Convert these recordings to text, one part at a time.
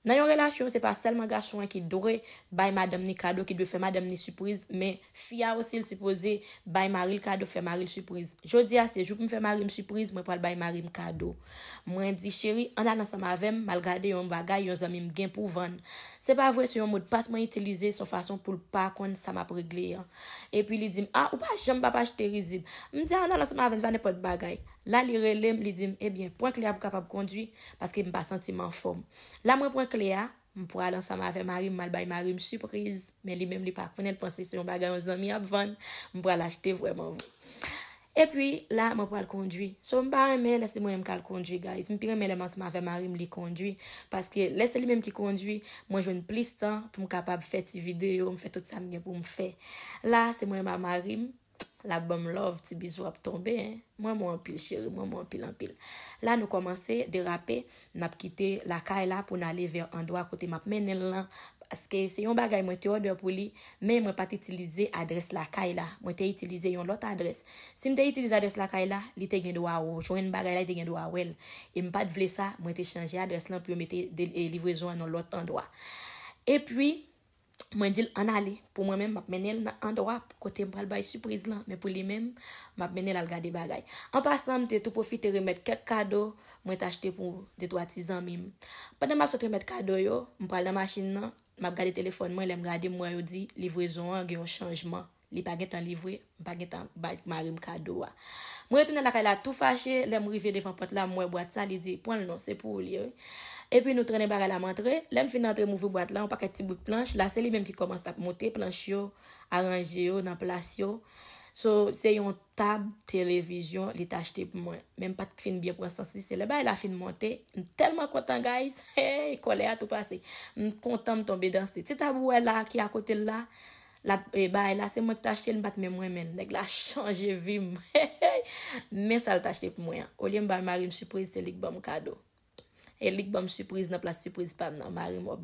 Nan yon relasyon se pa sèlman gason an ki dwe bay madanm ni kado ki dwe fè madanm ni sipriz men fi a osi l sipoze bay maril kado fè maril sipriz jodia se jou pou m fè marim sipriz mwen pral bay marim kado mwen di cheri ann al ansanm avèm mal gade yon bagay yon zanmi m gen pou vann se pa vre se yon modpas mwen itilize son fason pou l pa konn sa map regle an epi li dim a ou pa janm pap achte rizib m di a ann al ansanm avèm se pa nenpòt bagay la li relem li dim ebyen prank li a pou kapab kondwi paske m pa santi m anfòm. La mwen pran kle a, m pral ansanm avè mari m m al bay mari m sipriz, men li menm li pa konnen l panse se yon bagay yon zanmi ap vann, m pral achte vrèman vre. Epi la mwen pral kondwi. So m pa renmen lè se mwen menm k al kondwi guys, m pi renmen lè m ansanm avè mari m li kondwi, paske lè se li menm ki kondwi, mwen jwenn plis tan pou m kapab fè ti videyo, m fè tout sa m gen pou m fè. La se mwen menm a mari m. Lap banm love ti bizou ap tonbe hein m renmen w anpil chérie m renmen w anpil anpil la nou kòmanse derape nap kite lakay la pou n ale vè andwa kote map mennen l lan paske se yon bagay mwen te òdè pou li men mwen pat itilize adrès lakay la mwen te itilize yon lòt adrès si m te itilize adrès lakay la li te gen dwa jwenn bagay la li te gen dwa wè l e m pat vle sa mwen te chanje adrès lan pou yo mete livrezon an yon lòt andwa epi Mwen di l ann ale. Pou mwen menm, m ap mennen l nan andwa kote m pral bay sipriz lan, men pou li menm, m ap mennen l al gade bagay. An pasan, m te tou pwofite remèt kèk kado mwen t achte pou detwa ti zanmi m. Pandan m ap sot remèt kado yo, m pral nan machin nan, m ap gade telefòn mwen, lè m gade m wè yo di livrezon an gen yon chanjman. Li pa gentan livre, m pa gentan bay mari m kado a. Mwen retounen lakay la tou fache, lè m rive devan pòt la m wè bwat sa, li di, pran l non, se pou ou li ye wi. Epi nou trennen bagay la m antre, lè m fin antre m ouvri bwat la yon pakèt ti brik planch, la se li menm ki kòmanse ap moute planch yo, aranje yo nan plas yo. So se yon tab televizyon li t achte pou mwen, men m pa t fin byen pran sans li, se lè bagay la fin monte, m tèlman kontan guys, heyy kòlè a tou pase, m kontan m tonbe danse. Ti tab ou wè la ki akote l la, Lap bay la se mwen ki t achte l m pat menm renmen l nèg la chanje vi m hehey men sa l t achte pou mwen an olye m bay mari m sipriz se li k banm kado e li k banm sipriz nan plas sipriz pa m nan mari m wap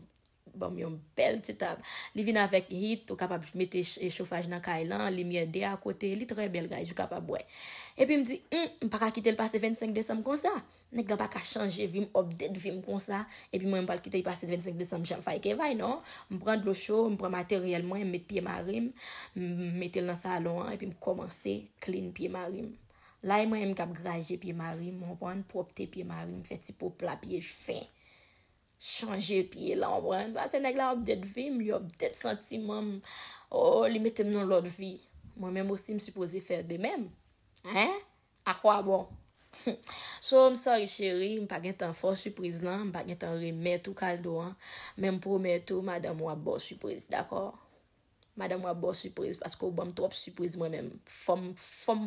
banm yon bèl ti tab li vin avèk heat ou kapab mete chofaj nan kay lan limyè de a kote li trè bèl guys ou kapab wè epi m di humm m paka kite l pase 25 desanm konsa. Nèg la paka chanje vim update vim konsa epi mwen mpral kite li pase 25 desanm jan fay ke fay non mpran dlo cho mpran materyèl mwen met pye marim metel nan salon an epi mkomanse clean pye marim la e mwen menm kap graje pye marim ou konprann pwopte pye marim fè ti po pla pye fen chanje pye la ou konprann pase nèg la update vim li update santimanm oo li metem nan lòt vi mwen menm osi msipoze fè de menm hein. A quoi bon? Sow m sorry chérie m pa gentan fè w surprise lan, m pa gentan remèt ou kaldo an, men m promèt ou madanm ou ap ba w surprise dakò? Madanm ou ap ba w surprise paske ou banm twòp surprise mwen menm fòm fòm